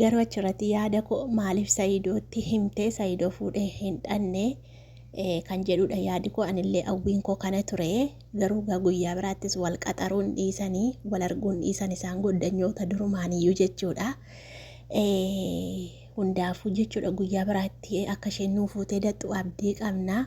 Garuu achirratti yaada koo maaliif Sa'iidootti himtee Sa'iidoo fuudhee hin dhanne kan jedhudha yaadi koo anillee hawwiin koo kana ture garuu gaa guyyaa biraattis wal qaxaruun dhiisanii wal arguun dhiisan isaan goddanyoota durumaaniyyuu jechuudha. Hundaafuu jechuudha guyyaa biraatti akka isheen nuu fuutee dattu abdii qabna.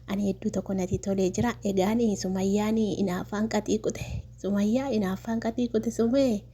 Ani hedduu tokko natti tolee jira. Egaan sumayyaan inaaffaan qaxii qute. Sumayyaa inaaffaan qaxii qute sumee.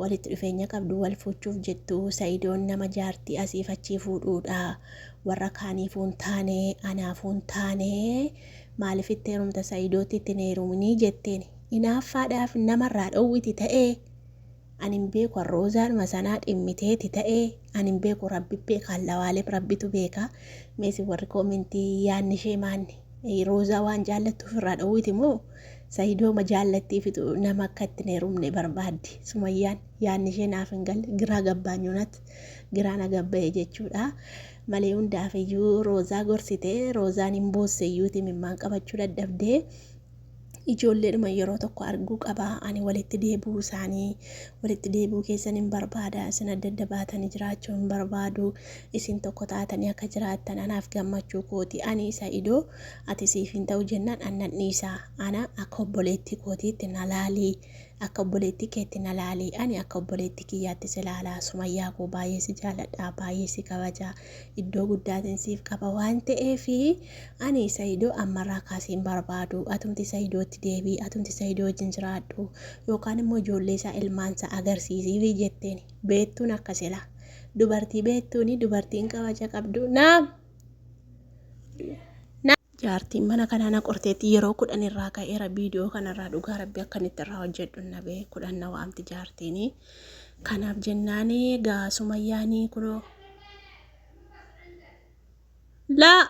Walitti dhufeenya qabdu wal fuuchuuf jettu sayidoon nama jaartii asiif achii fuudhuudha warra kaaniifuu hin taane anaafuu hin taane maaliif itti heerumta sayidootti itti hin heeruminii jetteen inaaffaadhaaf nama irraa dhowwiti ta'ee ani hin beeku an roozaadhuma sanaa dhimmiteeti ta'ee ani hin beeku rabbi beeka allawaalim rabbitu beeka meesi warri koomentii yaadni ishee maanni. Roozaa waan jaallattu ofirraa dhoowwiti moo Sayidooma jaallattiifitu nama akka itti hin heerumne barbaaddi Sumayyaan yaadni ishee naaf hin galle giraa gabbaanyu nat giraa na gabba'e jechuudha malee hundaafiyyuu Roozaa gorsite Roozaan hin boosse iyyuuti imimmaan qabachuu dadhabdee ijoolleedhuma yeroo tokko arguu qaba ani walitti deebi'uu isaanii walitti deebi'uu keessan hin barbaada isin adda adda baatanii jiraachuu hin barbaadu isin tokko taatanii akka jiraattan anaaf gammachuu kooti ani isa idoo ati siif hin ta'u jennaan annan dhiisa ana akka obboleettii kootiitti na laalii akka obboleettii keetti na laalii ani akka obboleettii kiyyaatti si laalaa sumayyaa koo baay'ee si jaaladha baay'ee si kabajaa iddoo guddaatiin siif qaba waan ta'eef ani sayidoo ammarraa kaasee hin barbaadu atumti sayidootti deebii atumti sayidoo wajjin jiraadhu yookaan immoo ijoollee isaa ilmaan isaa agarsiisiif jetteen beettuun akka silaa dubartii beettuuni dubartiin kabaja qabdu naam Jaartiin mana kanaa na qorteetti yeroo kudhan irraa ka'eera viidiyoo kanarraa dhugaa rabbi akkan itti irraa hojjedhu hin dhabe kudhan na waamti jaartiini. Kanaaf jennaani gaa sumayyaani kunoo. Laa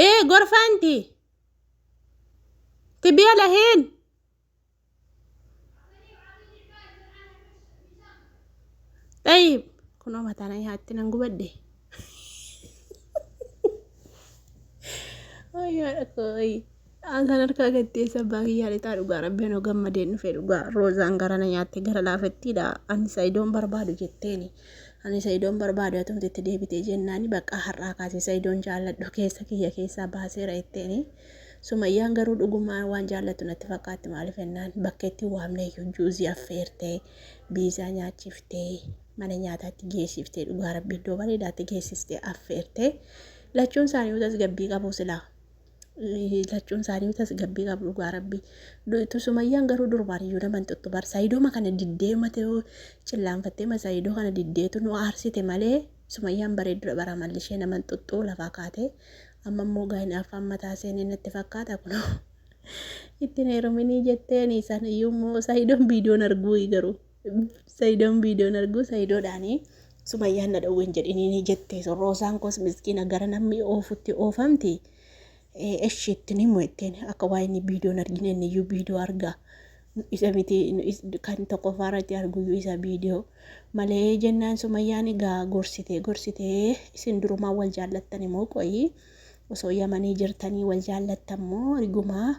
ee gorfaanti tibiya lahiin. Xayiib kunoo mataan haatti nan gubadhe. Ayyaa dhaqooyi. Aan kan harkaa gattee sabbaa kiyyaa lixaa dhugaa rabbiin hoo gammadeen dhufe dhugaa roozaan gara na nyaatte gara laafettiidha ani sayidoon barbaadu jetteeni. Ani sayidoon barbaadu atumti itti deebitee jennaani bakka har'aa kaasee sayidoon jaalladhu keessa kiyya keessaa baaseera jetteeni. Sumayyaan garuu dhugumaan waan jaallattu natti fakkaatti maaliif ennaan bakka itti waamne iyyuu juuzii affeertee biizaa nyaachiftee mana nyaataatti geessiftee dhugaa rabbi iddoo bareedaatti geessistee affeertee lachuun isaanii utas gabbii qabu silaa lachuun isaanii utas gabbii qabu dhugaa rabbi duutu sumayyaan garuu durbaan iyyuu naman tuttu bar sayidooma kana diddee mate cillaanfattee ma sayidoo kana diddeetu nu aarsite malee sumayyaan bareeddudha bara amalli ishee naman tuttu lafaa kaatee Amma immoo egaa hinaaffaan mataa seenee natti fakkaata kunoo. Itti hin heeruminii jetteeni san iyyuu immoo Sayidoon viidiyoon arguu garuu. Sayidoon viidiyoon arguu Sayidoodhaanii Sumayyaan na dhowween jedhiniinii jettee sun Roosaan koos miskiina gara namni oofutti oofamti. Eshi ittiin himu ittiin akka waa inni viidiyoon argine inni iyyuu viidiyoo argaa. isa miti kan tokkoffaa irratti arguyyuu isa viidiyoo malee jennaan sumayyaan egaa gorsitee gorsitee isin durumaa wal jaallattan immoo qoyii osoo yamanii jirtanii wal jaallattan moo rigumaa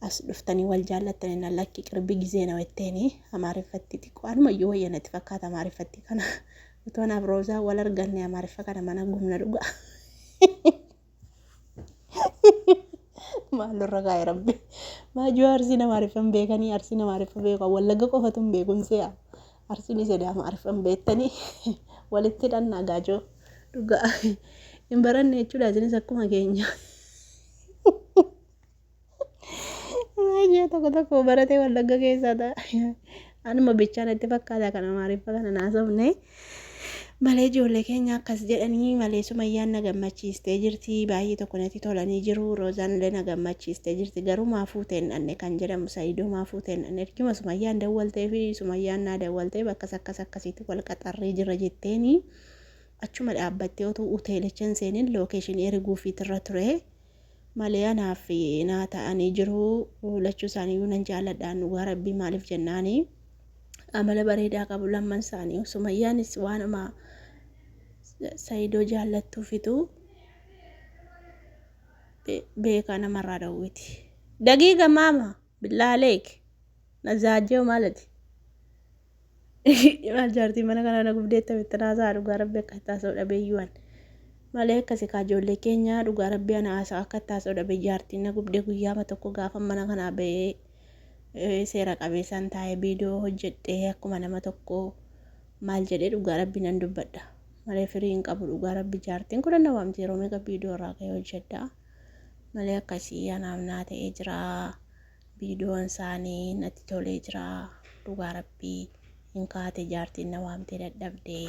as dhuftanii wal jaallattan inna lakki qirbi gizee na wetteeni amaariffatti xiqqoo anumayyuu wayya natti fakkaata amaariffatti kana utoon afroozaa wal arganne amaariffa kana mana gumna dhugaa Maaloo irra kaa'e rabbi. Maajoo arsii nama arifan beekanii arsii nama arifa beeku wallagga qofatu hin beekun si'a. Arsiin sidaama arifan beektanii walitti dhannaa gaajoo dhugaa hin baranne jechuudha isinis akkuma keenya. Baay'ee tokko tokko baratee wallagga keessaa ta'a. Anuma bichaa natti fakkaata kan amaariffa kana naasofne. Malee ijoollee keenya akkas jedhanii malee sumayyaan na gammachiistee jirti. Baay'ee tokko natti tolanii jiru. Roozaan illee na gammachiistee jirti. Garuu maa fuuteen dhanne kan jedhamu sa'idoo maa fuuteen dhanne. Ergima sumayyaan dawwaltee fi sumayyaan naa dawwaltee bakkas akkas akkasiitti wal qaxarree jira jetteeni. Achuma dhaabbattee otuu hoteelicha hin seenin lookeeshinii erguufiitirra ture. malee anaaf naa ta'anii jiru lachuu isaaniiyyuu nan jaaladhaan dhugaa rabbii maaliif jennaani amala bareedaa qabu lamman isaanii sumayyaanis waanuma sayidoo jaallattuufitu beekaa namarraa dhowwiti dagiiga maama Billaa aleek. Nazaajoo maalati? Maal jaartii mana kanaa na gubdeetta mitti naasaa dhugaa rabbi akka taasoo dhabeeyyuwan. Malee akkasi kaa ijoollee keenyaa dhugaa rabbi ana haasaa akka taasoo dhabe jaartiin na gubdee guyyaama tokko gaafa mana kanaa ba'ee eh, seera qabeessaan taa'ee viidiyoo hojjedhee akkuma nama tokko maal jedhee dhugaa rabbi nan dubbadha. Malee firii hin qabu dhugaa rabbi jaartiin kudhan na waamti yeroo meeqa viidiyoo irraa ka'ee hojjedha. malee akka isii anaaf naa ta'ee jira viidiyoon isaanii natti tolee jira dhugaa rabbii hin kaate jaartiin na waamtee dadhabdee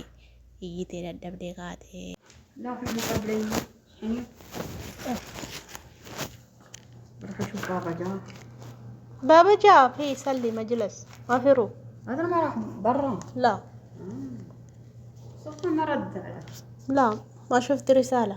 iyyitee dadhabdee kaatee. Laafi hin qableen hin barfa shubbaa bajaa. Baba jaa fi salli majilas afiru Adar mara barra. la Sofa mara dara. la ma shufti risala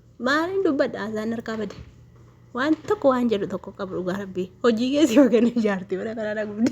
Maaliin dubbadha azaan harkaa bade. Waan tokko waan jedhu tokko qabu dhugaa rabbii. Hojii keessi hooganii ijaarti mana kanaa na gubdi.